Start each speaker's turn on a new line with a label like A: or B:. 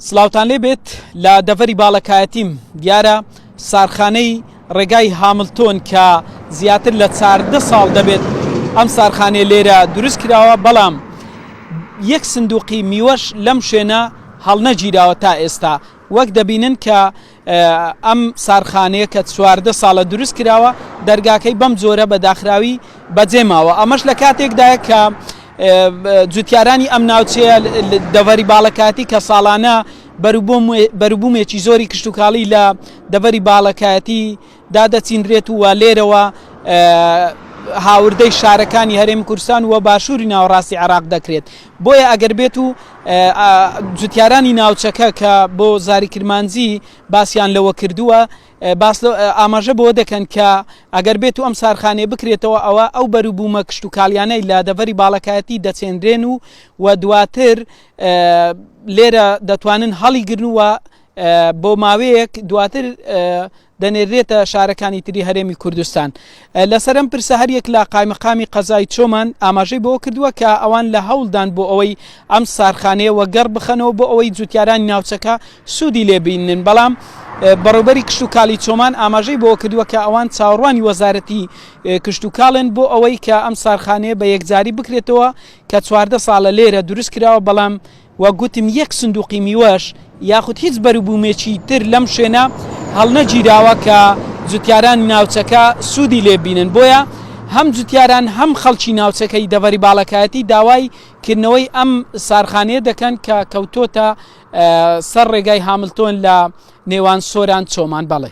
A: سلااوان لێ بێت لە دەڤەری باڵەکایەتیم دیارە سارخانەی ڕێگای هاملتۆن کە زیاتر لە چاردە ساڵ دەبێت ئەم سارخانێ لێرە دروست کراوە بەڵام یەک سندوقی میوەش لەم شوێنە هەڵنەگیراوە تا ئێستا وەک دەبینن کە ئەم سارخانەیە کە چواردە ساڵە دروست کراوە، دەرگاکەی بەم جۆرە بە داخراوی بەجێ ماوە، ئەمەش لە کاتێکدایە کە جوتیارانی ئەم ناوچەیە دەڤەری باڵەکایەتی کە ساڵانە بەروبوومێکی زۆری کشتوکاڵی لە دەڤەری باڵەکایەتی دا دەچینرێت و لێرەوە هاوردەی شارەکانی هەرێمی کوردستان و باشووری ناوەڕاستی عێراق دەکرێت. بۆیە ئەگەر بێت و جوتیارانی ناوچەکە کە بۆ زاری کرمانجی باسیان لەوە کردووە باس ئاماژە بۆ دەکەن کە ئەگەر بێت و ئەم سارخانێ بکرێتەوە ئەوە ئەو بەروبوومە کشت و کالیانەی لە دەڤەری باڵەکایەتی دەچێنرێن و و دواتر لێرە دەتوانن هەڵیگرنووە بۆ ماوەیەک دواتر دەنێرێتە شارەکانی تری هەرێمی کوردستان لەسەرم پرسە هەریەک لە قایمەقامی قەزای چۆمان ئاماژەی بۆ کردووە کە ئەوان لە هەوڵدان بۆ ئەوەی ئەم سارخانەیە وەگەڕ بخەنەوە بۆ ئەوەی جوتیارانی ناوچەکە سوودی لێبینن بەڵام بەڕوبەری کشت و کالی چۆمان ئاماژەی بۆ کردووە کە ئەوان چاوەڕوانی وەزارەتی کشت و کاڵێن بۆ ئەوەی کە ئەم سارخانەیە بە یەکجاری بکرێتەوە کە چواردە ساڵە لێرە دروست کراوە بەڵام وەک گوتم یەک سندوقی میوەش یاخود هیچ بەروبومێکی تر لەم شوێنە هەڵنەگیراوە کە جوتیارانی ناوچەکە سودی لێ ببینن بۆیە هەم جوتیاران هەم خەڵکی ناوچەکەی دەڤەری باڵەکایەتی داوای کردنەوەی ئەم سارخانەیە دەکەن کە کەوتۆتە سەر ڕێگای هاملتۆن لە نێوان سۆران چۆمان بەڵێ.